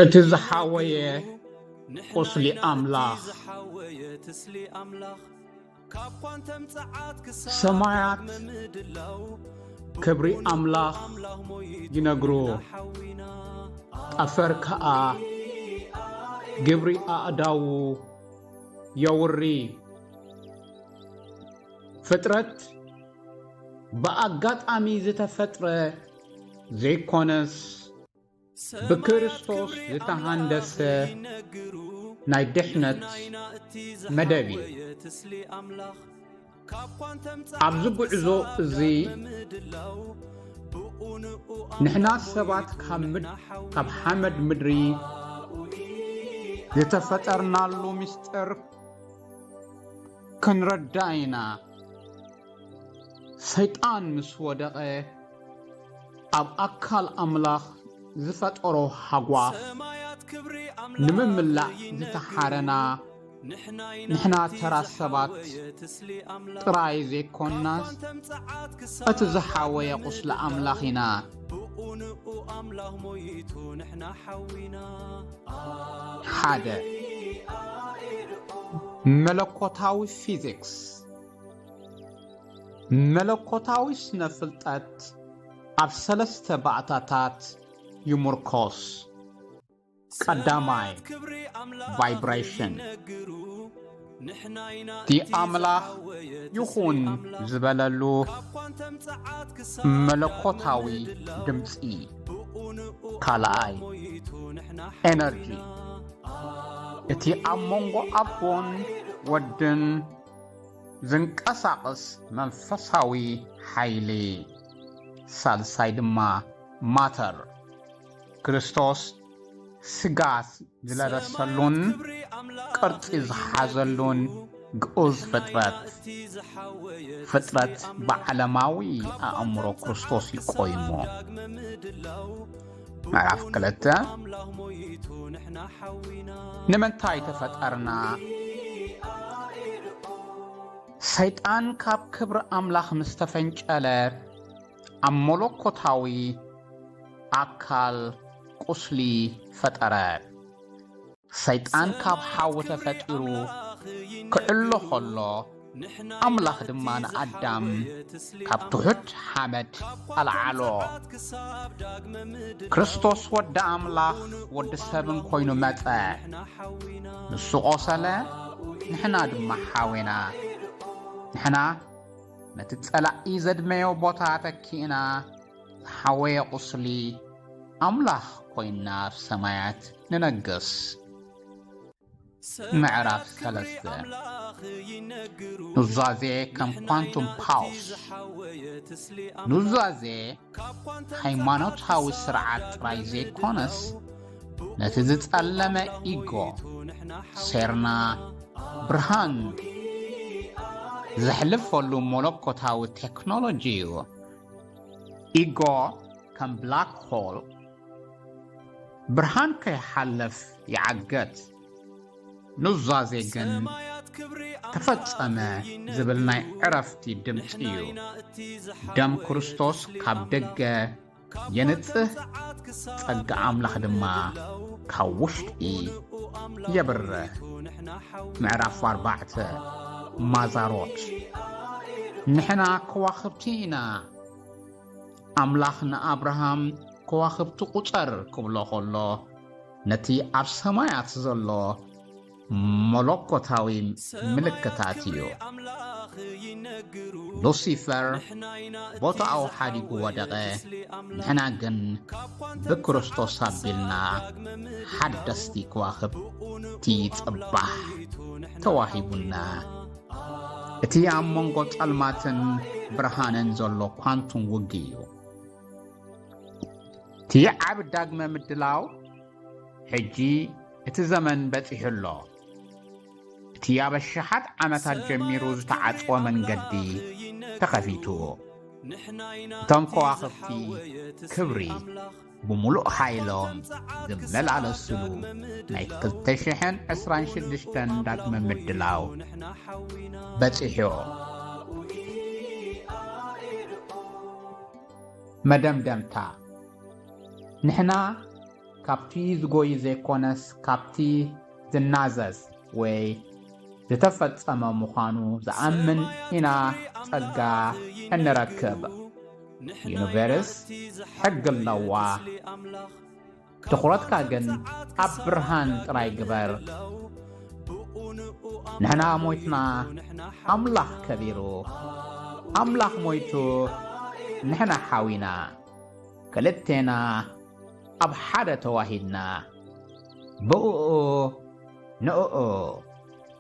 እቲ ዝሓወየ ቁስሊ ኣምላኽ ሰማያት ክብሪ ኣምላኽ ይነግሩ ጠፈር ከኣ ግብሪ ኣእዳዉ የውሪ ፍጥረት ብኣጋጣሚ ዝተፈጥረ ዘይኮነስ ብክርስቶስ ዝተሃንደሰ ናይ ድሕነት መደብ እዩ ኣብዚ ጉዕዞ እዚ ንሕና ሰባት ካብ ሓመድ ምድሪ ዝተፈጠርናሉ ምስጢር ክንረዳእ ኢና ሰይጣን ምስ ወደቐ ኣብ ኣካል ኣምላኽ ዝፈጠሮ ሃጓፍ ንምምላእ ዝተሓረና ንሕና ተራ ሰባት ጥራይ ዘይኮናስ እቲ ዝሓወየ ቁስሊ ኣምላኽ ኢና። ሓደ መለኮታዊ ፊዚክስ መለኮታዊ ስነ ፍልጠት ኣብ ሰለስተ ባእታታት ይሙርኮስ። ቀዳማይ፣ ቫይብሬሽን፣ እቲ ኣምላኽ ይኹን ዝበለሉ መለኮታዊ ድምፂ። ካልኣይ፣ ኤነርጂ፣ እቲ ኣብ መንጎ ኣቦን ወድን ዝንቀሳቕስ መንፈሳዊ ሓይሊ ሳልሳይ ድማ ማተር ክርስቶስ ስጋ ዝለበሰሉን ቅርጺ ዝሓዘሉን ግኡዝ ፍጥረት ፍጥረት ብዓለማዊ ኣእምሮ ክርስቶስ እዩ ቆይሙ ምዕራፍ ክልተ ንምንታይ ተፈጠርና ሰይጣን ካብ ክብሪ ኣምላኽ ምስ ተፈንጨለ ኣብ መለኮታዊ ኣካል ቁስሊ ፈጠረ ሰይጣን ካብ ሓዊ ተፈጢሩ ክዕሎ ኸሎ፣ ኣምላኽ ድማ ንኣዳም ካብ ትሑት ሓመድ ኣልዓሎ። ክርስቶስ ወዲ ኣምላኽ ወዲ ሰብን ኮይኑ መጸ። ንሱ ቆሰለ፣ ንሕና ድማ ሓዌና። ንሕና ነቲ ጸላኢ ዘድመዮ ቦታ ተኪእና ዝሓወየ ቁስሊ ኣምላኽ ኮይንና ኣብ ሰማያት ንነግስ። ምዕራፍ ሰለስተ ኑዛዜ ከም ኳንቱም ፓውስ ኑዛዜ ሃይማኖታዊ ስርዓት ጥራይ ዘይኮነስ ነቲ ዝጸለመ ኢጎ ሴርና ብርሃን ዘሕልፈሉ መለኮታዊ ቴክኖሎጂ እዩ። ኢጎ ከም ብላክ ሆል ብርሃን ከይሓልፍ ይዓገት፣ ኑዛዜ ግን ተፈጸመ ዝብል ናይ ዕረፍቲ ድምጺ እዩ። ደም ክርስቶስ ካብ ደገ የንጽህ፣ ጸጋ ኣምላኽ ድማ ካብ ውሽጢ የብርህ። ምዕራፍ ኣርባዕተ ማዛሮት ንሕና ከዋኽብቲ ኢና ኣምላኽ ንኣብርሃም ከዋኽብቲ ቁጸር ክብሎ ከሎ ነቲ ኣብ ሰማያት ዘሎ መለኮታዊ ምልክታት እዩ ሉሲፈር ቦታኡ ሓዲጉ ወደቐ ንሕና ግን ብክርስቶስ ኣቢልና ሓደስቲ ከዋኽብቲ ጽባሕ ተዋሂቡና እቲ ኣብ መንጎ ጸልማትን ብርሃንን ዘሎ ኳንቱም ውግ እዩ እቲ ዓብ ዳግመ ምድላው ሕጂ እቲ ዘመን በጺሑ ኣሎ እቲ ኣብ ኣሽሓት ዓመታት ጀሚሩ ዝተዓጽወ መንገዲ ተኸፊቱ እቶም ከዋኽብቲ ክብሪ ብምሉእ ሓይሎም ዝመላለስሉ ናይ 226 ዳግመ ምድላው በጺሑ መደምደምታ ንሕና ካብቲ ዝጎይ ዘይኮነስ ካብቲ ዝናዘዝ ወይ ዝተፈጸመ ምዃኑ ዝኣምን ኢና ጸጋ እንረክብ ዩኒቨርስ ሕጊ ኣለዋ ትኹረትካ ግን ኣብ ብርሃን ጥራይ ግበር ንሕና ሞይትና ኣምላኽ ከቢሩ ኣምላኽ ሞይቱ ንሕና ሓዊና ክልቴና ኣብ ሓደ ተዋሂድና ብእኡ ንእኡ